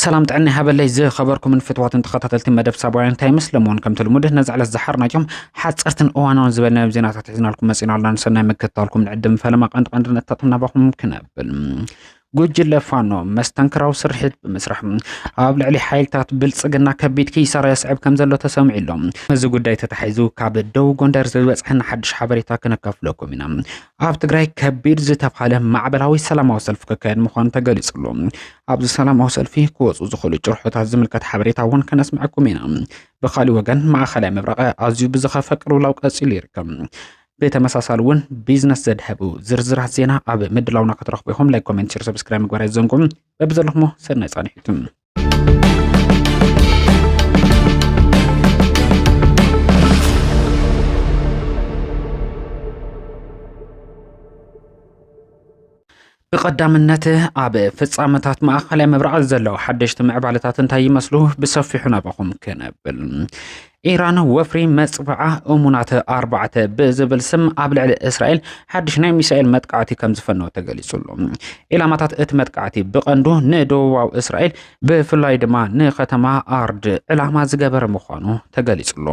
ሰላም ጥዕና ሃበለይ ዝኸበርኩምን ፍትዋትን ተኸታተልቲ መደብ ሳባውያን እንታይ ምስለምዎን ከምቲ ልሙድ ነዚ ዕለት ዝሓርናዮም ሓፀርትን እዋናውን ዝበልናዮም ዜናታት ሒዝናልኩም መፂና ኣለና ንሰናይ ምክትታልኩም ንዕድም ፈለማ ቀንዲ ቀንዲ ነጥብታት ናባኹም ክነብል ጉጅለ ፋኖ መስተንክራዊ ስርሒት ብምስራሕ ኣብ ልዕሊ ሓይልታት ብልፅግና ከቢድ ኪሳራ የስዕብ ከም ዘሎ ተሰሚዑ ኣሎ። እዚ ጉዳይ ተታሒዙ ካብ ደቡብ ጎንደር ዝበፅሐና ሓድሽ ሓበሬታ ክነካፍለኩም ኢና። ኣብ ትግራይ ከቢድ ዝተብሃለ ማዕበላዊ ሰላማዊ ሰልፊ ክካየድ ምዃኑ ተገሊጹ ኣሎ። ኣብዚ ሰላማዊ ሰልፊ ክወፁ ዝኽእሉ ጭርሖታት ዝምልከት ሓበሬታ እውን ከነስምዐኩም ኢና። ብካሊእ ወገን ማእኸላይ ምብራቕ ኣዝዩ ብዝኸፈ ቅልውላው ቀፂሉ ይርከብ። ብተመሳሳሊ እውን ቢዝነስ ዘድሀቡ ዝርዝራት ዜና ኣብ ምድላውና ክትረኽቡ ኢኹም። ላይክ፣ ኮሜንት፣ ሸር፣ ሰብስክራይብ ምግባር ኣይዘንጉም። በብዘለኹሞ ሰናይ ጻንሒቱ ብቐዳምነት ኣብ ፍጻመታት ማእኸላይ ምብራቕ ዘለዉ ሓደሽቲ ምዕባለታት እንታይ ይመስሉ ብሰፊሑ ናባኹም ክነብል ኢራን ወፍሪ መፅባዓ እሙናት ኣርባዕተ ብዝብል ስም ኣብ ልዕሊ እስራኤል ሓድሽ ናይ ሚሳኤል መጥቃዕቲ ከም ዝፈነወ ተገሊጹ ኣሎ። ዒላማታት እቲ መጥቃዕቲ ብቐንዱ ንደቡባዊ እስራኤል ብፍላይ ድማ ንከተማ ኣርድ ዕላማ ዝገበረ ምዃኑ ተገሊጹሉ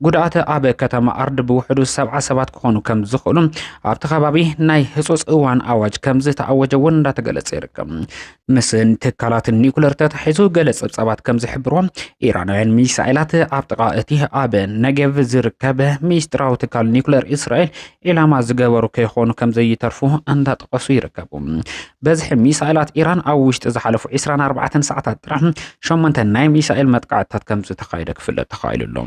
ጉድኣት ኣብ ከተማ ኣርድ ብውሕዱ ሰብዓ ሰባት ክኾኑ ከም ዝኽእሉ ኣብቲ ከባቢ ናይ ህፁፅ እዋን ኣዋጅ ከም ዝተኣወጀ እውን እንዳተገለጸ ይርከብ ምስ ትካላት ኒኩለር ተታሒዙ ገለ ጸብጻባት ከም ዝሕብሮ ኢራናውያን ሚሳኤላት ኣብ ጥቓ እቲ ኣብ ነጌቭ ዝርከብ ሚስጥራዊ ትካል ኒኩለር እስራኤል ዒላማ ዝገበሩ ከይኾኑ ከም ዘይተርፉ እንዳጠቐሱ ይርከቡ። በዝሒ ሚሳኤላት ኢራን ኣብ ውሽጢ ዝሓለፉ 24 ሰዓታት ጥራሕ ሸሞንተ ናይ ሚሳኤል መጥቃዕትታት ከም ዝተኻየደ ክፍለጥ ተኻኢሉ ኣሎ።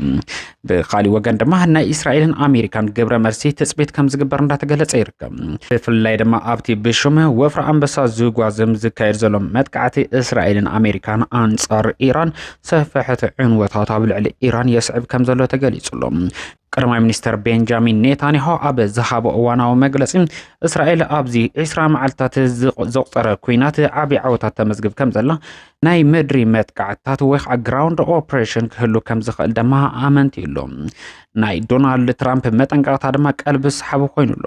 ብካሊእ ወገን ድማ ናይ እስራኤልን ኣሜሪካን ግብረ መልሲ ትፅቢት ከም ዝግበር እንዳተገለጸ ይርከብ። ብፍላይ ድማ ኣብቲ ብሽም ወፍሪ ኣንበሳ ዝጓዝም ዝካየድ ዘሎ መጥቃዕቲ እስራኤልን ኣሜሪካን ኣንጻር ኢራን ሰፈሕቲ ዕንወታት ኣብ ልዕሊ ኢራን የስዕብ ከም ዘሎ ተገሊጹ ኣሎ። ቀዳማይ ሚኒስትር ቤንጃሚን ኔታንያሆ ኣብ ዝሃቦ እዋናዊ መግለፂ እስራኤል ኣብዚ ዒስራ መዓልትታት ዘቑፀረ ኩናት ዓብ ዓወታት ተመዝግብ ከም ዘላ ናይ ምድሪ መጥቃዕትታት ወይ ከዓ ግራውንድ ኦፕሬሽን ክህሉ ከም ዝኽእል ድማ ኣመንቲ ኣሎ ናይ ዶናልድ ትራምፕ መጠንቀቕታ ድማ ቀልቢ ሰሓቢ ኮይኑ ኣሎ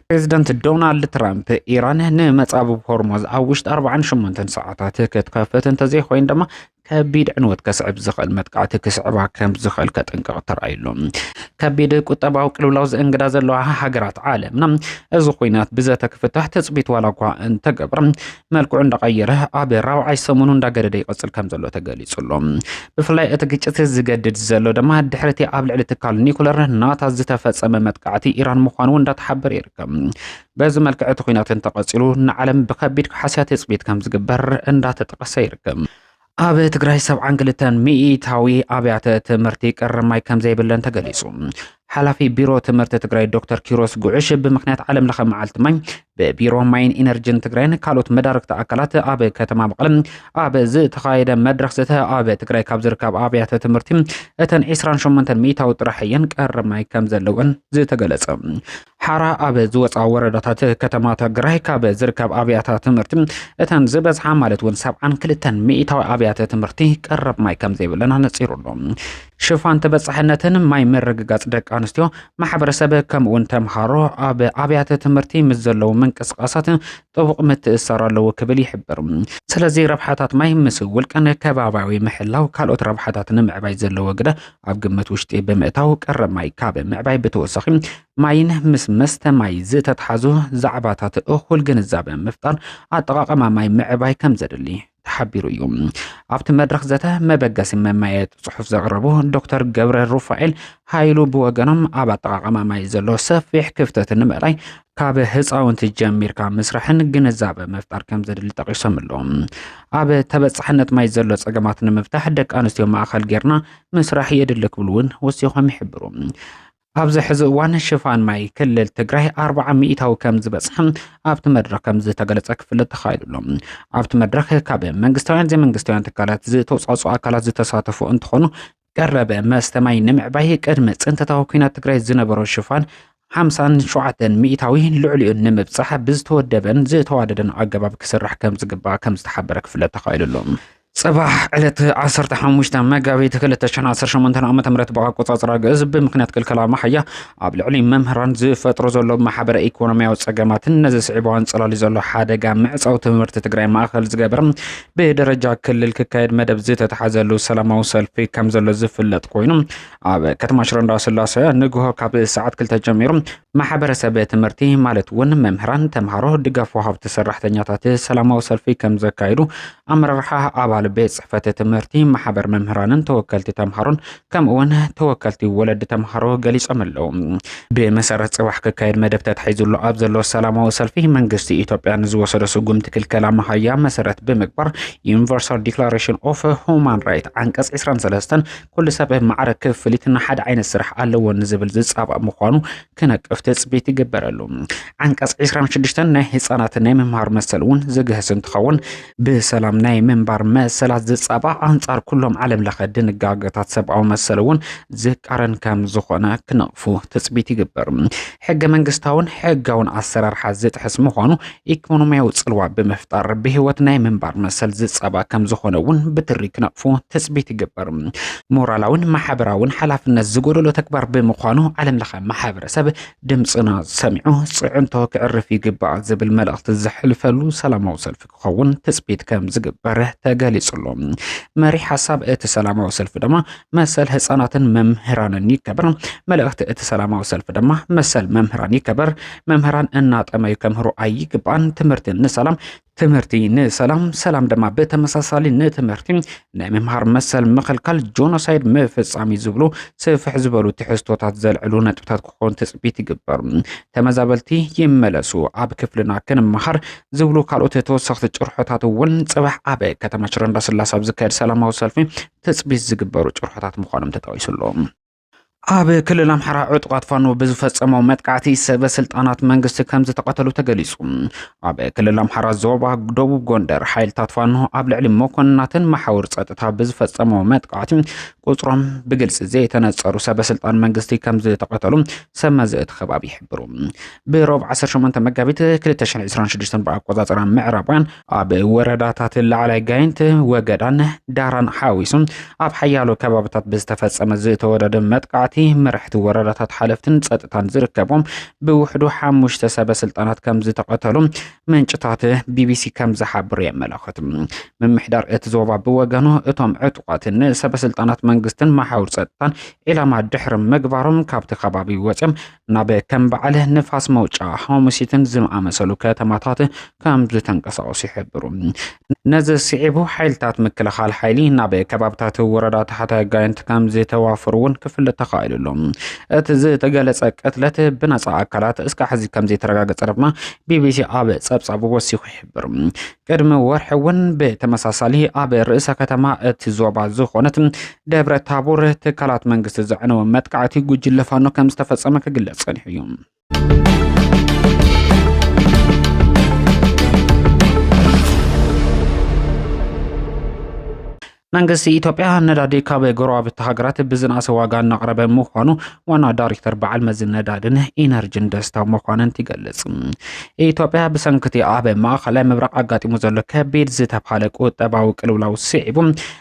ፕሬዚደንት ዶናልድ ትራምፕ ኢራን ንመፃብብ ሆርሞዝ ኣብ ውሽጢ 48 ሰዓታት ክትከፍት እንተዘይኮይን ድማ ከቢድ ዕንወት ከስዕብ ዝኽእል መጥቃዕቲ ክስዕባ ከም ዝኽእል ከጠንቅቕ ተራእዩሉ ከቢድ ቁጠባዊ ቅልውላው ዘእንግዳ ዘለዋ ሃገራት ዓለምና እዚ ኩናት ብዘተ ክፍታሕ ትፅቢት ዋላ እኳ እንተገብረ መልክዑ እንዳቐየረ ኣብ ራብዓይ ሰሙኑ እንዳገደደ ይቐፅል ከም ዘሎ ተገሊፁሉ ብፍላይ እቲ ግጭት ዝገድድ ዘሎ ድማ ድሕሪ እቲ ኣብ ልዕሊ ትካል ኒኩለር ናታ ዝተፈፀመ መጥቃዕቲ ኢራን ምዃኑ እንዳተሓበረ ይርከብ በዚ መልክዕ እቲ ኩናት እንተቐፂሉ ንዓለም ብከቢድ ክሓስያ ትፅቢት ከም ዝግበር እንዳተጠቐሰ ይርከብ። ኣብ ትግራይ ሰብዓን ክልተን ሚኢታዊ ኣብያተ ትምህርቲ ቀረብ ማይ ከም ዘይብለን ተገሊጹ። ሓላፊ ቢሮ ትምህርቲ ትግራይ ዶክተር ኪሮስ ጉዕሽ ብምክንያት ዓለም ለኸ መዓልቲ ማይ ብቢሮ ማይን ኢነርጂን ትግራይን ካልኦት መዳርግቲ ኣካላት ኣብ ከተማ መቐለ ኣብ ዝተኻየደ መድረኽ ዘተ ኣብ ትግራይ ካብ ዝርከብ ኣብያተ ትምህርቲ እተን 28 ሚኢታዊ ጥራሕ እየን ቀረብ ማይ ከም ዘለወን ዝተገለጸ ሓራ ኣብ ዝወፃ ወረዳታት ከተማ ትግራይ ካብ ዝርከብ ኣብያተ ትምህርቲ እተን ዝበዝሓ ማለት እውን ሰብዓን ክልተን ሚእታዊ ኣብያተ ትምህርቲ ቀረብ ማይ ከም ዘይብለን ኣነፂሩ ኣሎ። ሽፋን ተበፃሕነትን ማይ ምርግጋፅ ደቂ ኣንስትዮ ማሕበረሰብ ከምኡውን ተምሃሮ ኣብ ኣብያተ ትምህርቲ ምስ ዘለዉ ምንቅስቃሳት ጥቡቕ ምትእሰር ኣለዎ ክብል ይሕብር። ስለዚ ረብሓታት ማይ ምስ ውልቀን ከባቢያዊ ምሕላው ካልኦት ረብሓታት ንምዕባይ ዘለዎ ግደ ኣብ ግምት ውሽጢ ብምእታው ቀረ ማይ ካብ ምዕባይ ብተወሳኺ ማይን ምስ መስተ ማይ ዝተትሓዙ ዛዕባታት እኹል ግንዛበ ምፍጣር ኣጠቓቐማ ማይ ምዕባይ ከም ዘድሊ ተሓቢሩ እዩ ኣብቲ መድረኽ ዘተ መበገሲ መማየጢ ፅሑፍ ዘቕረቡ ዶክተር ገብረ ሩፋኤል ሃይሉ ብወገኖም ኣብ ኣጠቓቐማ ማይ ዘሎ ሰፊሕ ክፍተት ንምእላይ ካብ ህፃውንቲ ጀሚርካ ምስራሕን ግንዛበ ምፍጣር ከም ዘድሊ ጠቂሶም ኣለዉ። ኣብ ተበፃሕነት ማይ ዘሎ ፀገማት ንምፍታሕ ደቂ ኣንስትዮ ማእኸል ጌርና ምስራሕ የድሊ ክብሉ እውን ወሲኾም ይሕብሩ። ኣብዚ ሕዚ እዋን ሽፋን ማይ ክልል ትግራይ ኣርባዓ ሚእታዊ ከም ዝበፅሐ ኣብቲ መድረክ ከም ዝተገለፀ ክፍለጥ ተኻኢሉ ኣሎ። ኣብቲ መድረክ ካብ መንግስታውያን ዘይመንግስታውያን ትካላት ዝተውፃፅኡ ኣካላት ዝተሳተፉ እንትኾኑ ቀረበ መስተ ማይ ንምዕባይ ቅድሚ ፅንተታዊ ኩናት ትግራይ ዝነበሮ ሽፋን 57 ሚእታዊ ልዕሊኡ ንምብፃሕ ብዝተወደበን ዝተዋደደን ኣገባብ ክስራሕ ከም ዝግባእ ከም ዝተሓበረ ክፍለጥ ተኻኢሉ ኣሎ። ጽባሕ ዕለት 15 መጋቢት 2018 ዓ.ም ብኣቆጻጽራ ግእዝ ብምክንያት ክልከላ መሓያ ኣብ ልዕሊ መምህራን ዝፈጥሮ ዘሎ ማሕበረ ኢኮኖሚያዊ ጸገማትን ነዚ ስዒቡ ኣንጸላልዩ ዘሎ ሓደጋ ምዕጻው ትምህርቲ ትግራይ ማእከል ዝገበር ብደረጃ ክልል ክካየድ መደብ ዝተተሓዘሉ ሰላማዊ ሰልፊ ከም ዘሎ ዝፍለጥ ኮይኑ ኣብ ከተማ ሽረ እንዳስላሰ ንግሆ ካብ ሰዓት ክልተ ጀሚሩ ማሕበረሰብ ትምህርቲ ማለት እውን መምህራን፣ ተምሃሮ፣ ድጋፍ ወሃብቲ ሰራሕተኛታት ሰላማዊ ሰልፊ ከም ዘካየዱ ኣመራርሓ ኣባል ቤት ፅሕፈት ትምህርቲ ማሕበር መምህራንን ተወከልቲ ተምሃሮን ከምኡ እውን ተወከልቲ ወለዲ ተምሃሮ ገሊጾም ኣለዉ። ብመሰረት ጽባሕ ክካየድ መደብ ተታሒዙሉ ኣብ ዘሎ ሰላማዊ ሰልፊ መንግስቲ ኢትዮጵያ ንዝወሰዶ ስጉምቲ ክልከላ መሃያ መሰረት ብምግባር ዩኒቨርሳል ዲክላሬሽን ኦፍ ሁማን ራይት ዓንቀጽ 23 ኩሉ ሰብ ማዕረ ክፍሊት ንሓደ ዓይነት ስራሕ ኣለዎ ንዝብል ዝጻባእ ምዃኑ ክነቅፍ ትፅቢት ይግበረሉ። ዓንቀፅ 26 ናይ ህፃናት ናይ ምምሃር መሰል እውን ዝግህስ እንትኸውን ብሰላም ናይ ምንባር መሰላት ዝፃባእ ኣንፃር ኩሎም ዓለም ለኸ ድንጋገታት ሰብኣዊ መሰል እውን ዝቃረን ከም ዝኾነ ክነቕፉ ትፅቢት ይግበር። ሕገ መንግስታውን ሕጋውን ኣሰራርሓ ዝጥሕስ ምዃኑ ኢኮኖሚያዊ ጽልዋ ብምፍጣር ብህይወት ናይ ምንባር መሰል ዝጸባ ከም ዝኾነ እውን ብትሪ ክነቕፉ ትጽቢት ይግበር። ሞራላውን ማሕበራውን ሓላፍነት ዝጎደሎ ተግባር ብምዃኑ ዓለም ለኸ ማሕበረሰብ ድምፅና ሰሚዑ ፅዕንቶ ክዕርፍ ይግባእ ዝብል መልእኽቲ ዘሕልፈሉ ሰላማዊ ሰልፊ ክኸውን ትጽቢት ከም ዝግበር ተገሊጹ ኣሎ። መሪሕ ሓሳብ እቲ ሰላማዊ ሰልፊ ድማ መሰል ህፃናትን መምህራንን ይከበር። መልእኽቲ እቲ ሰላማዊ ሰልፊ ድማ መሰል መምህራን ይከበር፣ መምህራን እናጠመዩ ከምህሩ ኣይግባን፣ ትምህርቲ ንሰላም ትምህርቲ ንሰላም ሰላም ድማ ብተመሳሳሊ ንትምህርቲ ናይ ምምሃር መሰል ምኽልካል ጆኖሳይድ ምፍፃም እዩ ዝብሉ ስፍሕ ዝበሉ ትሕዝቶታት ዘልዕሉ ነጥብታት ክኾኑ ትፅቢት ይግበር። ተመዛበልቲ ይመለሱ፣ ኣብ ክፍልና ክንመሃር ዝብሉ ካልኦት ተወሰኽቲ ጭርሖታት እውን ፅባሕ ኣብ ከተማ ሽረ እንዳስላሰ ኣብ ዝካየድ ሰላማዊ ሰልፊ ትፅቢት ዝግበሩ ጭርሖታት ምዃኖም ተጠቒሱ ኣሎ። ኣብ ክልል ኣምሓራ ዕጡቓት ፋኖ ብዝፈፀመው መጥቃዕቲ ሰበ ስልጣናት መንግስቲ ከም ዝተቐተሉ ተገሊጹ። ኣብ ክልል ኣምሓራ ዞባ ደቡብ ጎንደር ሓይልታት ፋኖ ኣብ ልዕሊ መኮንናትን መሓውር ጸጥታ ብዝፈጸመው መጥቃዕቲ ቁጽሮም ብግልጺ ዘይተነጸሩ ሰበ ስልጣን መንግስቲ ከም ዝተቐተሉ ሰብ መዚ እቲ ከባቢ ይሕብሩ። ብሮብ 18 መጋቢት 2026 ብኣቆጻጽራ ምዕራባውያን ኣብ ወረዳታት ላዕላይ ጋይንት፣ ወገዳን ዳራን ሓዊሱ ኣብ ሓያሎ ከባቢታት ብዝተፈጸመ ዝተወደደ መጥቃዕቲ መራሕቲ ወረዳታት ሓለፍትን ጸጥታን ዝርከቦም ብውሕዱ ሓሙሽተ ሰበ ስልጣናት ከም ዝተቐተሉ ምንጭታት ቢቢሲ ከም ዝሓብሩ የመላኽት። ምምሕዳር እቲ ዞባ ብወገኑ እቶም ዕጡቓት ንሰበ ስልጣናት መንግስትን መሓውር ጸጥታን ዒላማ ድሕሪ ምግባሮም ካብቲ ከባቢ ወጺኦም ናብ ከም በዓል ንፋስ መውጫ ሓሙሲትን ዝኣመሰሉ ከተማታት ከም ዝተንቀሳቐሱ ይሕብሩ ነዚ ስዒቡ ሓይልታት ምክልኻል ሓይሊ ናብ ከባብታት ወረዳ ታሕታይ ጋይንት ከም ዝተዋፈሩ እውን ክፍለጥ ተኻኢሉ ኣሎ እቲ ዝተገለጸ ቅትለት ብነጻ ኣካላት እስካ ሕዚ ከም ዘይተረጋገጸ ድማ ቢቢሲ ኣብ ጸብጻቡ ወሲኹ ይሕብር ቅድሚ ወርሒ እውን ብተመሳሳሊ ኣብ ርእሰ ከተማ እቲ ዞባ ዝኾነት ደብረ ታቦር ትካላት መንግስቲ ዘዕነወ መጥቃዕቲ ጉጅለ ፋኖ ከም ዝተፈጸመ ክግለጽ ጸኒሑ እዩ። መንግስቲ ኢትዮጵያ ነዳዲ ካብ ጎረባብቲ ሃገራት ብዝነኣሰ ዋጋ እናቕረበ ምዃኑ ዋና ዳይሬክተር በዓል መዚ ነዳድን ኢነርጂን ደስታ መኳንንት ይገልጽ። ኢትዮጵያ ብሰንክቲ ኣብ ማእኸላይ ምብራቕ ኣጋጢሙ ዘሎ ከቢድ ዝተብሃለ ቁጠባዊ ቅልውላው ስዒቡ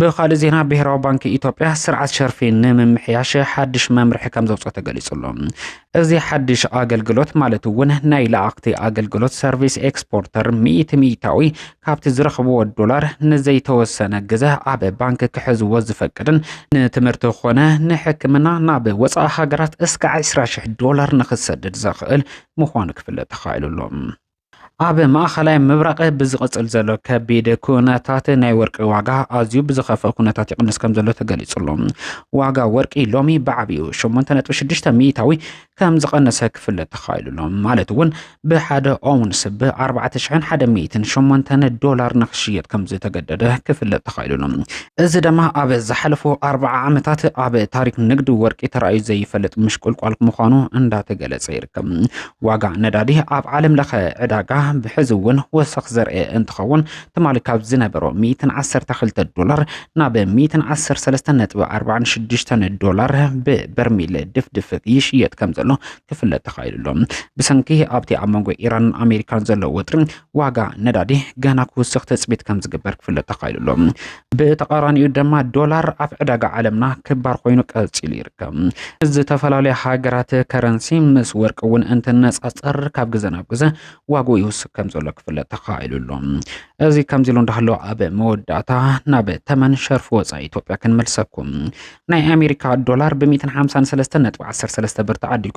ብኻልእ ዜና ብሄራዊ ባንኪ ኢትዮጵያ ስርዓት ሸርፊ ንምምሕያሽ ሓድሽ መምርሒ ከም ዘውፅኦ ተገሊጹ ኣሎ። እዚ ሓድሽ ኣገልግሎት ማለት እውን ናይ ለኣኽቲ ኣገልግሎት ሰርቪስ ኤክስፖርተር ሚእቲ ሚእታዊ ካብቲ ዝረኽብዎ ዶላር ንዘይተወሰነ ግዘ ኣብ ባንኪ ክሕዝዎ ዝፈቅድን ንትምህርቲ ኮነ ንሕክምና ናብ ወፃኢ ሃገራት እስከ 20 ሽሕ ዶላር ንክሰድድ ዘኽእል ምዃኑ ክፍለጥ ተኻኢሉ ኣሎ። ኣብ ማእኸላይ ምብራቕ ብዝቕፅል ዘሎ ከቢድ ኩነታት ናይ ወርቂ ዋጋ ኣዝዩ ብዝኸፍእ ኩነታት ይቕንስ ከም ዘሎ ተገሊጹ ኣሎ። ዋጋ ወርቂ ሎሚ ብዓብዩ 8.6 ሚእታዊ ከም ዝቐነሰ ክፍለጥ ተኻኢሉ ኣሎ። ማለት እውን ብሓደ ኦውንስ ብ4,108 ዶላር ንክሽየጥ ከም ዝተገደደ ክፍለጥ ተኻኢሉ ኣሎ። እዚ ድማ ኣብ ዝሓለፉ ኣርባዓ ዓመታት ኣብ ታሪክ ንግዲ ወርቂ ተራእዩ ዘይፈልጥ ምሽቁልቋል ምዃኑ እንዳተገለጸ ይርከብ። ዋጋ ነዳዲ ኣብ ዓለም ለኸ ዕዳጋ ብሕዚ እውን ወሰኽ ዘርእየ እንትኸውን ትማሊ ካብ ዝነበሮ 112 ዶላር ናብ 113.46 ዶላር ብበርሚል ድፍድፍ ይሽየጥ ከም ዘሎ ክፍለጥ ተኻኢሉ ኣሎ። ብሰንኪ ኣብቲ ኣብ መንጎ ኢራንን ኣሜሪካን ዘሎ ወጥሪ ዋጋ ነዳዲ ገና ክውስኽ ትጽቢት ከም ዝግበር ክፍለጥ ተኻኢሉ ኣሎ። ብተቓራኒኡ ድማ ዶላር ኣብ ዕዳጋ ዓለምና ክባር ኮይኑ ቀጺሉ ይርከብ። ዝተፈላለዩ ሃገራት ከረንሲ ምስ ወርቂ እውን እንትነጻጸር ካብ ግዘ ናብ ግዘ ዋግኡ ይውስኽ ከም ዘሎ ክፍለጥ ተኻኢሉ ኣሎ። እዚ ከምዚ ኢሉ እንዳሃሎ ኣብ መወዳእታ ናብ ተመን ሸርፊ ወፃኢ ኢትዮጵያ ክንመልሰኩም። ናይ ኣሜሪካ ዶላር ብ153.13 ብር ተዓዲጉ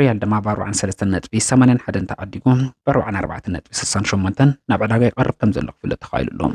ሪያል ድማ ብ ኣርብዓን ሰለስተን ነጥቢ ሰማንያን ሓደን ተዓዲጉ ብ ኣርብዓን ኣርባዕተን ነጥቢ ስሳን ሸሞንተን ናብ ዕዳጋ ይቐርብ ከም ዘሎ ክፍለጥ ተኻኢሉ ኣሎ።